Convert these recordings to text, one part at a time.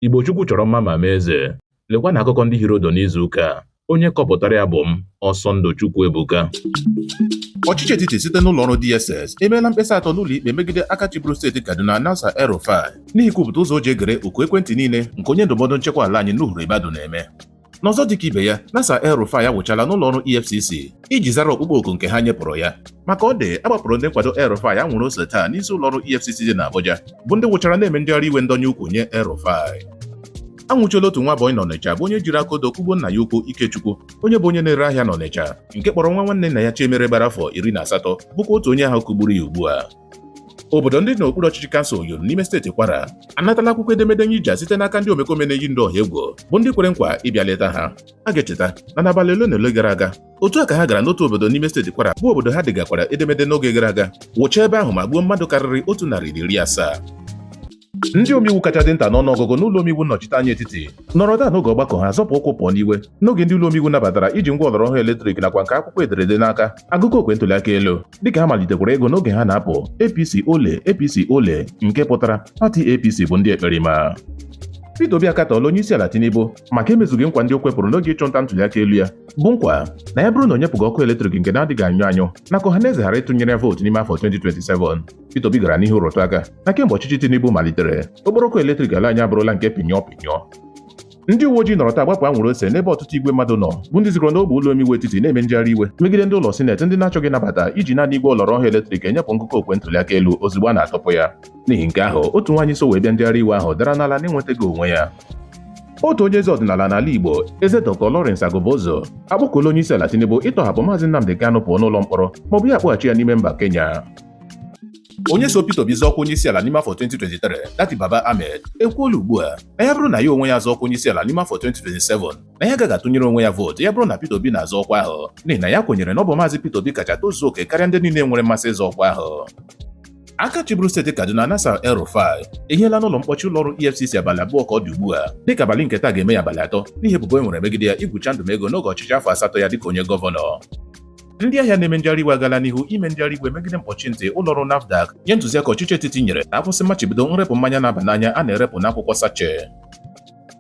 Igbo Chukwu chọrọ mma ma mee eze. Lekwa na akụkọ ndị hiri ụdụ n'izu ụka a. Onye kọpụtara ya bụ m, Ọsọndụ Chukwu Ebuka. Ọchịchị etiti site n'ụlọ ọrụ DSS emeela mkpesa atọ n'ụlọ ikpe megide aka chịburu steeti Kaduna Nasir El-Rufai n'ihi ikwupụta ụzọ o ji egere oku ekwentị niile nke onye ndụmọdụ nchekwa ala anyị Nuhu Ribadu na-eme. N'ọzọ dịka ibe ya, Nasir El-Rufai awụchala n'ụlọ ọrụ EFCC iji zara ọkpụkpọ oku nke ha nyepụrụ ya. Ma ka ọ dị, a gbapụrụ ndị nkwado El-Rufai anwụrụ ose taa n'isi ụlọ ọrụ EFCC dị n'Abuja, bụ ndị wụchara na-eme njegharị iwe ndọnye ukwu nye El-Rufai. Anwụchiela otu nwa bọyị n'Ọnịcha bụ onye jiri aka odo kụgbuo nna ya ukwu Ikechukwu, onye bụ onye na-ere ahịa n'Ọnịcha, nke kpọrọ nwa nwanne nna ya Chiemere gbara afọ iri na asatọ, bụkwa otu onye ahụ kụgburu ya ugbu a. obodo ndị n'okpuru ọchịchị kansụl Oyun n'ime steeti Kwara anatala akwụkwọ edemede nyija site n'aka ndị omekome na-eyi ndụ ọha egwu bụ ndị kwere nkwa ịbịa leta ha a ga-echeta na n'abalị ole na ole gara aga otu a ka ha gara n'otu obodo n'ime steeti Kwara bụ obodo ha degakwara edemede n'oge gara aga wụchaa ebe ahụ ma gbuo mmadụ karịrị otu narị iri asaa ndị omeiwu kacha dị nta n'ọnụọgụgụ n'ụlọ omeiwu nnọchiteanya etiti nọrọ taa n'oge ọgbakọ ha zọpụ ụkwụ pụọ n'iwe n'oge ndị ụlọ omeiwu nabatara iji ngwa ọlọrọ ọhụrụ eletrik nakwa nke akwụkwọ e dere ede n'aka agụkọ okwe ntụliaka elu dịka ha malitekwara ịgụ n'oge ha na-apụ APC ole APC ole nke pụtara pati APC bụ ndị ekperima Peter Obi akatọọla onye isi ala Tinubu maka emezughị nkwa ndị o kwepụrụ n'oge ịchụ nta ntụliaka elu ya bụ nkwa na ya bụrụ na o nyepụghị ọkụ eletrik nke na-adịghị anyụ anyụ na ka ọha na eze ghara ịtụnyere ya vootu n'ime afọ 2027 Peter Obi gara n'ihu rụtụ aka na kemgbe ọchịchị Tinubu malitere okporo ọkụ eletrik ala anyị abụrụla nke pinyọ pinyọ ndị uwe ojii nọrọ taa gbapụ anwụrụ ose n'ebe ọtụtụ igwe mmadụ nọ bụ ndị zukọrọ n'ogbe ụlọ omeiwu etiti na-eme njegharị iwe megide ndị ụlọ sineti ndị na-achọghị ịnabata iji naanị igwe ọlọrọ ọhụụ eletrik enyepụ ngụkọ okwe ntụliaka elu ozugbo a na-atụpụ ya n'ihi nke ahụ otu nwaanyị so wee bịa njegharị iwe ahụ dara n'ala na-enwetaghị onwe ya otu onye eze ọdịnala n'ala Igbo eze Dr. Lawrence Agubuzu akpọkuola onye isi ala Tinubu ịtọhapụ maazị Nnamdi Kanu pụọ n'ụlọ mkpọrọ maọbụ ya akpọghachi ya n'ime mba Kenya onye so Peter Obi zọọ ọkwa onye isi ala n'ime afọ 2023 Datti Baba Ahmed ekwuola ugbu a na ya bụrụ na ya onwe ya zọọ ọkwa onye isi ala n'ime afọ 2027 na ya agaghị atụnyere onwe ya vootu ya bụrụ na Peter Obi na-azọ ọkwa ahụ n'ihi na ya kwenyere na ọ bụ maazị Peter Obi kacha tozuo oke karịa ndị niile nwere mmasị ịzọ ọkwa ahụ aka chịburu steeti Kaduna Nasir El-Rufai ehiela n'ụlọ mkpọchi ụlọọrụ EFCC abalị abụọ ka ọ dị ugbu a dịka abalị nke taa ga-eme ya abalị atọ n'ihi ebubo e nwere megide ya igwucha ndụmego n'oge ọchịchị afọ asatọ ya dịka onye gọvanọ ndị ahịa na-eme njegharị iwe agala n'ihu ime njegharị iwe megide mkpọchi ntị ụlọọrụ NAFDAC nye ntụziaka ọchịchị etiti nyere na a kwụsị mmachibido nrepụ mmanya na-aba n'anya a na-erepụ n'akwụkwọ sachet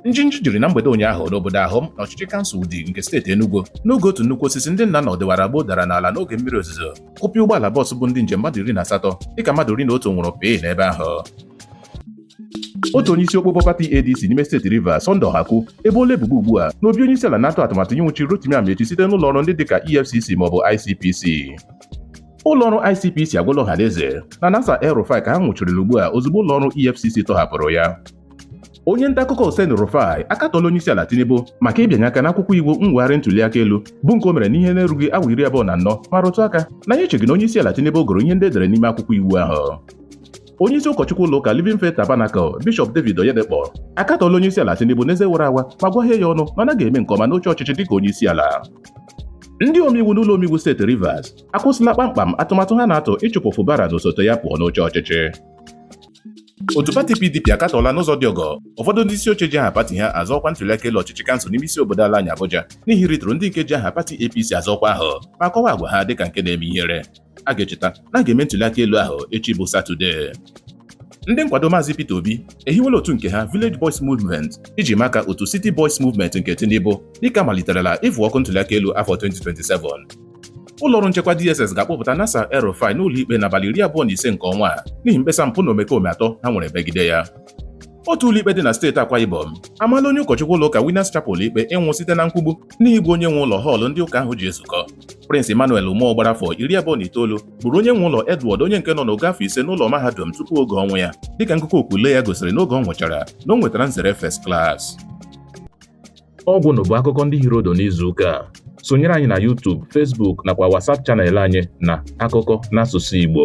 njinji jiri na mgbede ụnyaahụ n'obodo Awhum n'ọchịchị kansụl Udi nke steeti Enugu n'oge otu nnukwu osisi ndị nna na ọdịwara gboo dara n'ala n'oge mmiri ozuzo kụpịa ụgbọala bọọsụ bu ndị njem mmadụ iri na asatọ dịka mmadụ iri na otu nwụrụ pịị n'ebe ahụ otu onye isi okpokpo pati ADC n'ime steeti Rivers Sunday Ohaku eboola ebubo ugbu a na obi onye isi ala na-atụ atụmatụ ịnwụchi Rotimi Amaechi site n'ụlọ ọrụ ndị dịka EFCC maọbụ ICPC ụlọ ọrụ ICPC agwala ọhaneze na Nasir El-Rufai ka ha nwụchirila ugbu a ozugbo ụlọ ọrụ EFCC tọhapụrụ ya onye nta akụkọ Oseni Rufai akatọọla onye isi ala Tinubu maka ịbịanye aka n'akwụkwọ iwu mwegharị ntuli aka elu bụ nke o mere n'ihe na-erughị awa iri abụọ na anọ ma rụtụ aka na ya echeghị na onye isi ala Tinubu gụrụ ihe ndị e dere n'ime akwụkwọ iwu ahụ onye isi ụkọchukwu ụlọ ụka Living Faith Tabernacle Bishop David Oyedepo akatọọla onye isi ala Tinubu n'eze wara awa ma gwaghee ya ọnụ na ọ naghị eme nke ọma n'oche ọchịchị dịka onye isi ala ndị omeiwu n'ụlọ omeiwu steeti Rivers akwụsịla kpamkpam atụmatụ ha na-atụ ịchụpụ Fubara na osote ya pụọ n'oche ọchịchị otu pati PDP akatọọla n'ụzọ dị ọgọ ụfọdụ ndị isi oche ji aha pati ha azọ ọkwa ntuliaka elu ọchịchị kansụl n'ime isi obodo ala anyị Abuja n'ihi ịrịtụrụ ndị nke ji aha pati APC azọ ọkwa ahụ ma kọwaa agwa ha dịka nke na-eme ihere a ga-echeta na a ga-eme ntụliaka elu ahụ echi bụ Satọde ndị nkwado Maazị Peter Obi ehiwela otu nke ha Village Boys Movement iji maa aka otu City Boys Movement nke Tinubu dịka a maliterela ịfụ ọkụ ntụliaka elu afọ 2027 ụlọọrụ nchekwa DSS ga-akpọpụta Nasir El-Rufai n'ụlọikpe n'abalị iri abụọ na ise nke ọnwa a n'ihi mkpesa mpụ na omekome atọ ha nwere megide ya otu ụlọikpe dị na steeti Akwa Ibom amaala onye ụkọchukwu ụlọụka Winners Chapel ikpe ịnwụ site na nkwugbu N'ihi igbu onye nwe ụlọ họọlụ ndị ụka ahụ ji ezukọ, Prince Emmanuel Umoh gbara afọ iri abụọ na itoolu gburu onye nwe ụlọ Edward onye nke nọ n'ogo afọ ise n'ụlọ mahadum tupu oge ọnwụ ya dịka ngụkọ okwu ule ya gosiri n'oge ọ nwụchara na o nwetara nzere first class. Ọ gwụla bụ akụkọ ndị hiri ụdụ n'izu ụka a. Sonyere anyị na YouTube, Facebook nakwa WhatsApp channel anyị na akụkọ n'asụsụ Igbo.